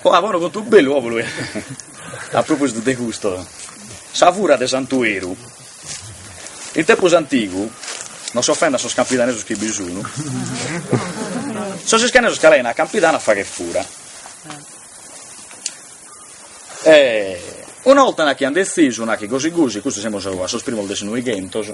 Oh a bonu contu bellu populu e a propositu de custu sa fura de Santueru in tempus antigu non s'offendan sos campidanesos chi bi sunu sos iscanesos ca 'enian a Campidanu a fagher fura e una 'olta nachi an dezisu nacchi gosi gosi custos semus a sos primos de su noighentos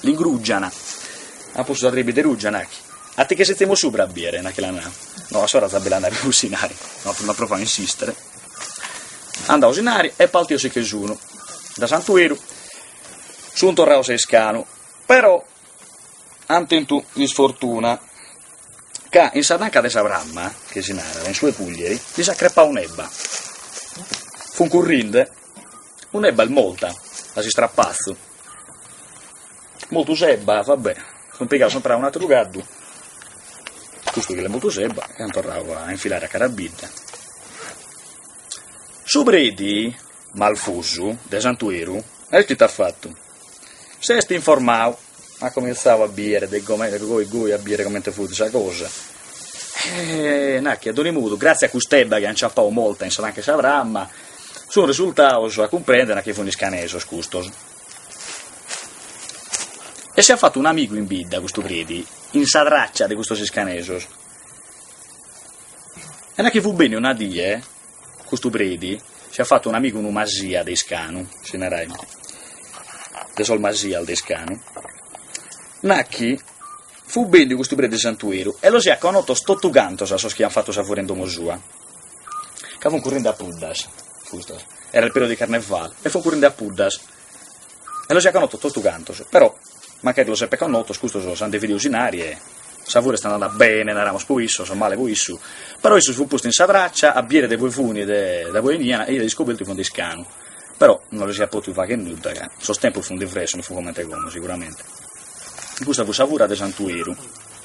L'ingrùgiant. At postu sa trìbide rùgia, nagh. A ti che setzimus subra a bìere, nagh, che la nau. No, a s'ora si abbellanant pius inari. No, no provau a insìstere. At dau su inari e partios si che sunu. Da Santueru sun torraos a Iscanu, però an tentu isfortuna, ca in sa tanca de sa pramma, che si narat, in su 'e cùglieri, lis at crepau un'ebba. Fun currinde, un'ebba est morta, a s'istrapazzu. Moltu s'ebba, va bè, an pigadu semper a un'atteru caddu, custu chi l'est moltu s'ebba, e an torradu a infilare a cara bidda. Su preti, malfusu, de Santueru, e ite at fattu? S'est informadu, at comintzadu a biere de comente, goi goi a biere comente fut sa cosa, e nachi a donzi modu, gratzias a cust'ebba chi ant aciappadu molta in sa tanca 'e sa pramma Sunt resultados a cumprèndere chi funt iscanesos custos. E si aiat fatu un'amigu in bidda, custu Predi, in sa tràcia de custos iscanesos. E na chi fut benniu una die, custu Predi, si aiat fatu un'amigu unu Masia de Iscanu, si naraiat, de sos Masias de Iscanu, na chi fut benniu custu Predi Santueru e los iat connotos totu cantos a sos chi iant fatu sa fura in domo sua. ca fun currinde a puddas, custos, era il periodo di carnevale, e fun currende a puddas, e los iat connotos totu cantos, però, mancari los eppet connotos, custos s'ant dividiu su inari e sa fura est andada bene, naramus, po issos o male po issu, però issu si fut postu in sa traccia a biere de ue funi de da ue 'eniana e iat iscobertu chi funt de Iscanu, però non los iat potidu fagher nudda, ca sos tempos funt diversos, non fut comente como, siguramente, custa fut sa fura de Santueru.